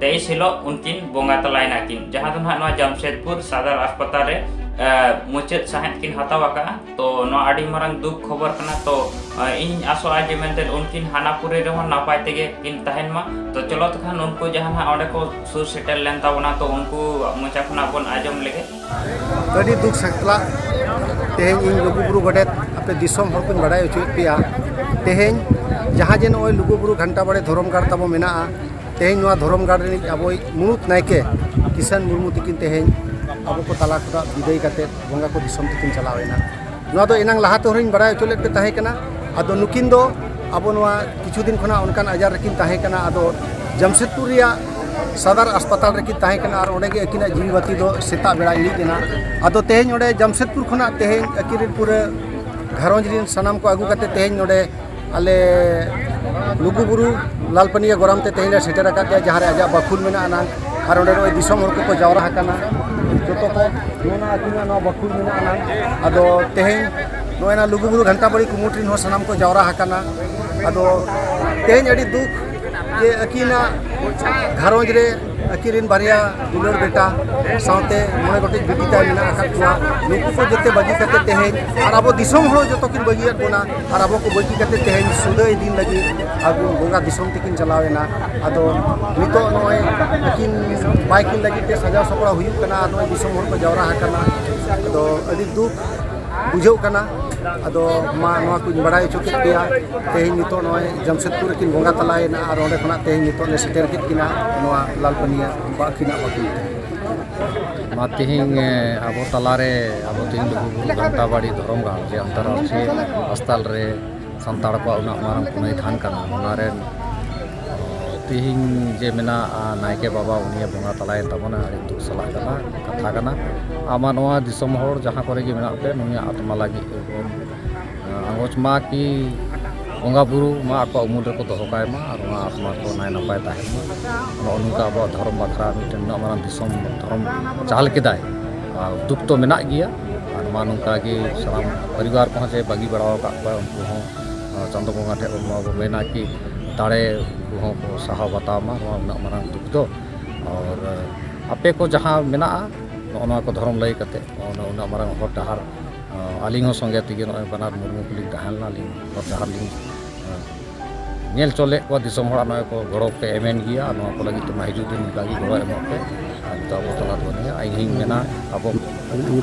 ᱛᱮᱭᱤᱥ ᱦᱤᱞᱳᱜ ᱩᱱᱠᱤᱱ ᱵᱚᱸᱜᱟ ᱛᱟᱞᱟᱭ ᱱᱟᱠᱤᱱ ᱡᱟᱦᱟᱸ ᱫᱚ ᱱᱟᱦᱟᱜ ᱱᱚᱣᱟ ᱡᱟᱢᱥᱮᱫᱽᱯᱩᱨ ᱥᱟᱫᱟᱨ ᱦᱟᱥᱯᱟᱛᱟᱞ ᱨᱮ ᱢᱩᱪᱟᱹᱫ ᱥᱟᱦᱮᱸᱫ ᱠᱤᱱ ᱦᱟᱛᱟᱣ ᱟᱠᱟᱫᱼᱟ ᱛᱚ ᱱᱚᱣᱟ ᱟᱹᱰᱤ ᱢᱟᱨᱟᱝ ᱫᱩᱠ ᱠᱷᱚᱵᱚᱨ ᱠᱟᱱᱟ ᱛᱚ ᱤᱧ ᱟᱥᱚᱜᱼᱟ ᱡᱮ ᱢᱮᱱᱛᱮ ᱩᱱᱠᱤᱱ ᱦᱟᱱᱟᱯᱩᱨᱤ ᱨᱮᱦᱚᱸ ᱱᱟᱯᱟᱭ ᱛᱮᱜᱮ ᱠᱤᱱ ᱛᱟᱦᱮᱱ ᱢᱟ ᱛᱚ ᱪᱚᱞᱚ ᱛᱚᱠᱷᱟᱱ ᱩᱱᱠᱩ ᱡᱟᱦᱟᱸ ᱱᱟᱦᱟᱜ ᱚᱸᱰᱮ ᱠᱚ ᱥᱩᱨ ᱥᱮᱴᱮᱨ ᱞᱮᱱ ᱛᱟᱵᱚᱱᱟ ᱛᱚ ᱩᱱᱠᱩ ᱢᱚᱪᱟ ᱠᱷᱚᱱᱟᱜ ᱵᱚᱱ ᱟᱸᱡᱚᱢ ᱞᱮᱜᱮ ᱟᱹᱰᱤ ᱫᱩᱠ ᱥᱟᱛᱞᱟ ᱛᱮᱦᱮᱧ ᱤᱧ ᱞᱩᱜᱩᱵᱩᱨᱩ ᱜᱚᱰᱮᱛ ᱟᱯᱮ ᱫᱤᱥᱚᱢ ᱦᱚᱲ ᱠᱚᱧ ᱵᱟᱰᱟᱭ ᱦᱚᱪᱚᱭᱮᱫ ᱯᱮᱭᱟ ᱛᱮᱦᱮᱧ ᱡᱟᱦᱟᱸ ᱡᱮ ᱱᱚᱜᱼᱚᱭ ᱞᱩᱜᱩᱵᱩᱨᱩ ᱜᱷᱟᱱᱴᱟ ᱵᱟᱲᱮ ᱫᱷᱚᱨᱚᱢ ᱜᱟᱲ ᱛᱟᱵᱚ ᱢᱮᱱᱟᱜᱼᱟ ᱛᱮᱦᱮᱧ ᱱᱚᱣᱟ ᱫᱷᱚᱨᱚᱢ ᱜᱟᱲ ᱨᱤᱱᱤᱡ ᱟᱵᱚᱭᱤᱡ ᱢᱩᱬᱩᱛ ᱱᱟᱭᱠᱮ ᱠᱤᱥᱟᱱ ᱢᱩᱨᱢᱩ ᱛᱤᱠᱤᱱ ᱛᱮᱦᱮᱧ ᱟᱵᱚ ᱠᱚ ᱛᱟᱞᱟ ᱠᱷᱚᱱᱟᱜ ᱵᱤᱫᱟᱹᱭ ᱠᱟᱛᱮ ᱵᱚᱸᱜᱟ ᱠᱚ ᱫᱤᱥᱚᱢ ᱛᱮᱠᱤᱱ ᱪᱟᱞᱟᱣᱮᱱᱟ ᱱᱚᱣᱟ ᱫᱚ ᱮᱱᱟᱝ ᱞᱟᱦᱟ ᱛᱮᱦᱚᱸ ᱞᱤᱧ ᱵᱟᱲᱟᱭ ᱦᱚᱪᱚ ᱞᱮᱫ ᱯᱮ ᱛᱟᱦᱮᱸ ᱠᱟᱱᱟ ᱟᱫᱚ ᱱᱩᱠᱤᱱ ᱫᱚ ᱟᱵᱚ ᱱᱚᱣᱟ ᱠᱤᱪᱷᱩ ᱫᱤᱱ ᱠᱷᱚᱱᱟᱜ ᱚᱱᱠᱟᱱ ᱟᱡᱟᱨ ᱨᱮᱠᱤᱱ ᱛᱟᱦᱮᱸ ᱠᱟᱱᱟ ᱟᱫᱚ ᱡᱟᱢᱥᱮᱫᱽᱯᱩᱨ ᱨᱮᱭᱟᱜ ᱥᱟᱫᱟᱨ ᱦᱟᱥᱯᱟᱛᱟᱞ ᱨᱮᱠᱤᱱ ᱛᱟᱦᱮᱸ ᱠᱟᱱᱟ ᱟᱨ ᱚᱸᱰᱮ ᱜᱮ ᱟᱹᱠᱤᱱᱟᱜ ᱡᱤᱣᱤ ᱵᱟᱹᱛᱤ ᱫᱚ ᱥᱮᱛᱟᱜ ᱵᱮᱲᱟ ᱤᱲᱤᱡ ᱮᱱᱟ ᱟᱫᱚ ᱛᱮᱦᱮᱧ ᱚᱸᱰᱮ ᱡᱟᱢᱥᱮᱫᱽᱯᱩᱨ ᱠᱷᱚᱱᱟᱜ ᱛᱮᱦᱮᱧ ᱟᱹᱠᱤᱱ ᱨᱮᱱ ᱯᱩᱨᱟᱹ ᱜᱷᱟᱨᱚᱸᱡᱽ ᱨᱮᱱ ᱥᱟᱱᱟᱢ ᱠᱚ ᱟᱹᱜᱩ ᱠᱟᱛᱮ ᱛᱮᱦᱮᱧ ᱱᱚᱸᱰᱮ ᱟᱞᱮ ᱞᱩᱜᱩ ᱵᱩᱨᱩ ᱞᱟᱞ ᱯᱟᱹᱱᱤᱭᱟᱹ ᱜᱚᱨᱟᱢ ᱛᱮ ᱛᱮᱦᱮᱧ ᱞᱮ ᱥᱮᱴᱮᱨ ᱟᱠᱟᱫ ᱯᱮᱭᱟ ᱡᱟᱦᱟᱸ ᱨᱮ ᱟᱡᱟᱜ ᱵᱟᱠᱷᱩᱞ ᱢᱮᱱᱟᱜ ᱟᱱᱟᱝ ᱟᱨ ᱚᱸᱰᱮ ᱱᱚᱜᱼᱚᱭ ᱫᱤᱥᱚᱢ ᱦᱚᱲ ᱠᱚᱠᱚ ᱡᱟᱣᱨᱟ ᱟᱠᱟᱱᱟ ᱡᱚᱛᱚ ᱠᱚ ᱱᱚᱣᱟ ᱟᱹᱛᱩ ᱨᱮᱱᱟᱜ ᱱᱚᱣᱟ ᱵᱟᱠᱷᱩᱞ ᱢᱮᱱᱟᱜ ᱟᱱᱟᱝ ᱟᱫᱚ ᱛᱮᱦᱮᱧ ᱱᱚᱜᱼᱚᱭ ᱱᱟ ᱞᱩᱜᱩ ᱵᱩᱨᱩ ᱜᱷᱟᱱᱴᱟ ᱵᱟᱹᱲᱤ ᱠᱩᱢᱩᱴ ᱨᱮᱱ ᱦᱚᱸ ᱥᱟᱱᱟᱢ ᱠᱚ ᱡᱟᱣᱨᱟ ᱟᱠᱟᱱᱟ ᱟᱫᱚ ᱛᱮᱦᱮᱧ ᱟᱹᱰᱤ ᱫᱩᱠ ᱡᱮ ᱟᱹᱠᱤᱱᱟᱜ ᱜᱷᱟᱨᱚᱸᱡᱽ ᱨᱮ ᱟᱹᱠᱤᱱ ᱵᱟᱨᱭᱟ ᱫᱩᱞᱟᱹᱲ ᱵᱮᱴᱟ ᱥᱟᱶᱛᱮ ᱢᱚᱬᱮ ᱜᱚᱴᱮᱡ ᱵᱤᱴᱤ ᱛᱟᱭ ᱢᱮᱱᱟᱜ ᱟᱠᱟᱫ ᱠᱚᱣᱟ ᱱᱩᱠᱩ ᱠᱚ ᱡᱚᱛᱚ ᱵᱟᱹᱜᱤ ᱠᱟᱛᱮ ᱛᱮᱦᱮᱧ ᱟᱨ ᱟᱵᱚ ᱫᱤᱥᱚᱢ ᱦᱚᱲ ᱡᱚᱛᱚ ᱠᱤᱱ ᱵᱟᱹᱜᱤᱭᱟᱫ ᱵᱚᱱᱟ ᱟᱨ ᱟᱵᱚ ᱠᱚ ᱵᱟᱹᱜᱤ ᱠᱟᱛᱮ ᱛᱮᱦᱮᱧ ᱥᱩᱫᱟᱹᱭ ᱫᱤᱱ ᱞᱟᱹᱜᱤᱫ ᱟᱵᱚ ᱵᱚᱸᱜᱟ ᱫᱤᱥᱚᱢ ᱛᱮᱠᱤᱱ ᱪᱟᱞᱟᱣ ᱮᱱᱟ ᱟᱫᱚ ᱱᱤᱛᱚᱜ ᱱᱚᱜᱼᱚᱭ ᱟᱹᱠᱤᱱ ᱵᱟᱭ ᱠᱤᱱ ᱞᱟᱹᱜᱤᱫ ᱛᱮ ᱥᱟᱡᱟᱣ ᱥᱟᱯᱲᱟᱣ ᱦᱩᱭᱩᱜ ᱠᱟᱱᱟ ᱟᱨ ᱱᱚᱜᱼᱚᱭ ᱫᱤᱥᱚᱢ ᱦᱚᱲ ᱠᱚ ᱡᱟᱣᱨᱟ ᱟᱠᱟᱱᱟ ᱟᱫᱚ ᱟᱹᱰᱤ ᱫᱩᱠ ᱵᱩᱡᱷᱟᱹᱜ ᱠᱟᱱᱟ ᱟᱫᱚ ᱢᱟ ᱱᱚᱣᱟ ᱠᱚᱧ ᱵᱟᱲᱟᱭ ᱦᱚᱪᱚ ᱠᱮᱫ ᱯᱮᱭᱟ ᱛᱮᱦᱮᱧ ᱱᱤᱛᱚᱜ ᱱᱚᱜᱼᱚᱭ ᱡᱟᱢᱥᱮᱫᱽᱯᱩᱨ ᱨᱮᱠᱤᱱ ᱵᱚᱸᱜᱟ ᱛᱟᱞᱟᱭᱮᱱᱟ ᱟᱨ ᱚᱸᱰᱮ ᱠᱷᱚᱱᱟᱜ ᱛᱮᱦᱮᱧ ᱱᱤᱛᱚᱜ ᱞᱮ ᱥᱮᱴᱮᱨ ᱠᱮᱫ ᱠᱤᱱᱟ ᱱᱚᱣᱟ ᱞᱟᱞᱯᱟᱹᱱᱤᱭᱟ ᱵᱟᱹᱠᱤᱱᱟᱜ ᱵᱟᱹᱠᱤᱱ ᱢᱟ ᱛᱮᱦᱮᱧ ᱟᱵᱚ ᱛᱟᱞᱟᱨᱮ ᱟᱵᱚ ᱛᱮᱦᱮᱧ ᱞᱩᱜᱩᱵᱩᱨᱩ ᱜᱷᱟᱱᱴᱟᱵᱟᱲᱤ ᱫᱷᱚᱨᱚᱢ ᱜᱟᱲ ᱡᱮ ᱟᱱᱛᱟᱨᱟᱥᱴᱨᱤᱭᱚ ᱦᱟᱥᱯᱟᱛᱟᱞ ᱨᱮ ᱥᱟᱱᱛᱟᱲ ᱠᱚᱣᱟᱜ ᱩᱱᱟᱹᱜ ᱢᱟᱨᱟᱝ ᱯᱩᱱᱟᱹᱭ ᱛᱷᱟᱱ ᱠᱟᱱᱟ ᱚᱱᱟ ᱨᱮ ᱛᱮᱦᱮᱧ ᱡᱮ ᱢᱮᱱᱟᱜ ᱱᱟᱭᱠᱮ ᱵᱟᱵᱟ ᱩᱱᱤ ᱵᱚᱸᱜᱟ ᱛᱟᱞᱟᱭᱮᱱ ᱛᱟᱵᱚᱱᱟ ᱟᱹᱰᱤ ᱫᱩᱠ ᱥᱟᱞᱟᱜ ᱠᱟᱱᱟ ᱠᱟᱛᱷᱟ ᱠᱟᱱᱟ ᱟᱢᱟᱜ ᱱᱚᱣᱟ ᱫᱤᱥᱚᱢ ᱦᱚᱲ ᱡᱟᱦᱟᱸ ᱠᱚᱨᱮ ᱜᱮ ᱢᱮᱱᱟᱜ ᱯᱮ ᱱᱩᱭᱟᱜ ᱟᱛᱢᱟ ᱞᱟᱹᱜᱤᱫ ᱛᱮᱵᱚᱱ ᱟᱸᱜᱚᱪ ᱢᱟ ᱠᱤ ᱵᱚᱸᱜᱟ ᱵᱩᱨᱩ ᱢᱟ ᱟᱠᱚᱣᱟᱜ ᱩᱢᱩᱞ ᱨᱮᱠᱚ ᱫᱚᱦᱚ ᱠᱟᱭ ᱢᱟ ᱟᱨ ᱱᱚᱣᱟ ᱟᱛᱢᱟ ᱠᱚ ᱱᱟᱭ ᱱᱟᱯᱟᱭ ᱛᱟᱦᱮᱱ ᱢᱟ ᱱᱚᱜᱼᱚ ᱱᱚᱝᱠᱟ ᱟᱵᱚᱣᱟᱜ ᱫᱷᱚᱨᱚᱢ ᱵᱟᱠᱷᱨᱟ ᱢᱤᱫᱴᱮᱱ ᱱᱩᱱᱟᱹᱜ ᱢᱟᱨᱟᱝ ᱫᱤᱥᱚᱢ ᱫᱷᱚᱨᱚᱢ ᱪᱟᱞ ᱠᱮᱫᱟᱭ ᱟᱨ ᱫᱩᱠ ᱛᱚ ᱢᱮᱱᱟᱜ ᱜᱮᱭᱟ ᱟᱨ ᱢᱟ ᱱᱚᱝᱠᱟ ᱜᱮ ᱥᱟᱱᱟᱢ ᱯᱚᱨᱤᱵᱟᱨ ᱠᱚᱦᱚᱸ ᱡᱮ ᱵᱟᱹᱜᱤ ᱵᱟᱲᱟ ᱟᱠᱟᱫ ᱠᱚᱣᱟᱭ ᱩᱱᱠᱩ ᱦᱚᱸ ᱪᱟᱸᱫᱚ ᱵᱚᱸᱜᱟ ᱴᱷᱮᱱ ᱵᱚᱱ ᱱᱚᱣᱟ ᱵᱚᱱ ᱢᱮᱱᱟ ᱠᱤ ᱫᱟᱲᱮ ᱠᱚᱦᱚᱸ ᱠᱚ ᱥᱟᱦᱟᱣ ᱵᱟᱛᱟᱣ ᱢᱟ ᱱᱚᱣᱟ ᱩᱱᱟᱹᱜ ᱢᱟᱨᱟᱝ ᱫᱩᱠ ᱫᱚ ᱟᱨ ᱟᱯᱮ ᱠᱚ ᱡᱟᱦᱟᱸ ᱢᱮᱱᱟᱜᱼᱟ ᱱᱚᱜᱼᱚ ᱱᱚᱣᱟ ᱠᱚ ᱫᱷᱚᱨᱚᱢ ᱞᱟᱹᱭ ᱠᱟᱛᱮᱫ ᱩᱱᱟᱹᱜ ᱢᱟᱨᱟᱝ ᱦᱚᱨ ᱰᱟᱦᱟᱨ ᱟᱹᱞᱤᱧ ᱦᱚᱸ ᱥᱚᱸᱜᱮ ᱛᱮᱜᱮ ᱱᱚᱜᱼᱚᱭ ᱵᱟᱱᱟᱨ ᱢᱩᱨᱢᱩ ᱠᱚᱞᱤᱧ ᱛᱟᱦᱮᱸ ᱞᱮᱱᱟ ᱟᱹᱞᱤᱧ ᱦᱚᱨ ᱰᱟᱦᱟᱨ ᱞᱤᱧ ᱧᱮᱞ ᱦᱚᱪᱚ ᱞᱮᱫ ᱠᱚᱣᱟ ᱫᱤᱥᱚᱢ ᱦᱚᱲᱟᱜ ᱱᱚᱜᱼᱚᱭ ᱠᱚ ᱜᱚᱲᱚ ᱯᱮ ᱮᱢᱮᱱ ᱜᱮᱭᱟ ᱟᱨ ᱱᱚᱣᱟ ᱠᱚ ᱞᱟᱹᱜᱤᱫ ᱛᱮᱢᱟ ᱦᱤᱡᱩᱜ ᱫᱤᱱ ᱚᱱᱠᱟ ᱜᱮ ᱜᱚᱲᱚ ᱮᱢᱚᱜ ᱯᱮ ᱟᱨ ᱱᱤᱛᱚᱜ ᱟᱵᱚ ᱛᱟᱞᱟ ᱨᱮ ᱵᱟᱹᱱᱩᱭᱟ ᱤᱧ ᱦᱚᱸᱧ ᱢᱮᱱᱟ ᱟᱵᱚ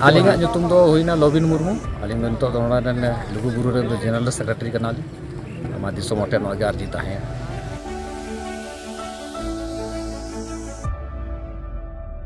ᱟᱹᱞᱤᱧᱟᱜ ᱧᱩᱛᱩᱢ ᱫᱚ ᱦᱩᱭᱱᱟ ᱞᱚᱵᱤᱱ ᱢᱩᱨᱢᱩ ᱟᱹᱞᱤᱧ ᱫᱚ ᱱᱤᱛᱚᱜ ᱫᱚ ᱱᱚᱰᱮ ᱨᱮᱱ ᱞᱩᱜᱩᱵᱩᱨᱩ ᱨᱮᱱ ᱫᱚ ᱡᱮᱱᱟᱨᱮᱞ ᱥᱮᱠᱨᱮᱴᱟᱨᱤ ᱠᱟᱱᱟᱞᱤᱧ ᱱᱚᱣᱟ ᱫᱤᱥᱚᱢ ᱦᱚᱲ ᱴᱷᱮᱱ ᱱᱚᱣᱟ ᱜᱮ ᱟᱨᱡᱤ ᱛᱟᱦᱮᱸᱭᱟ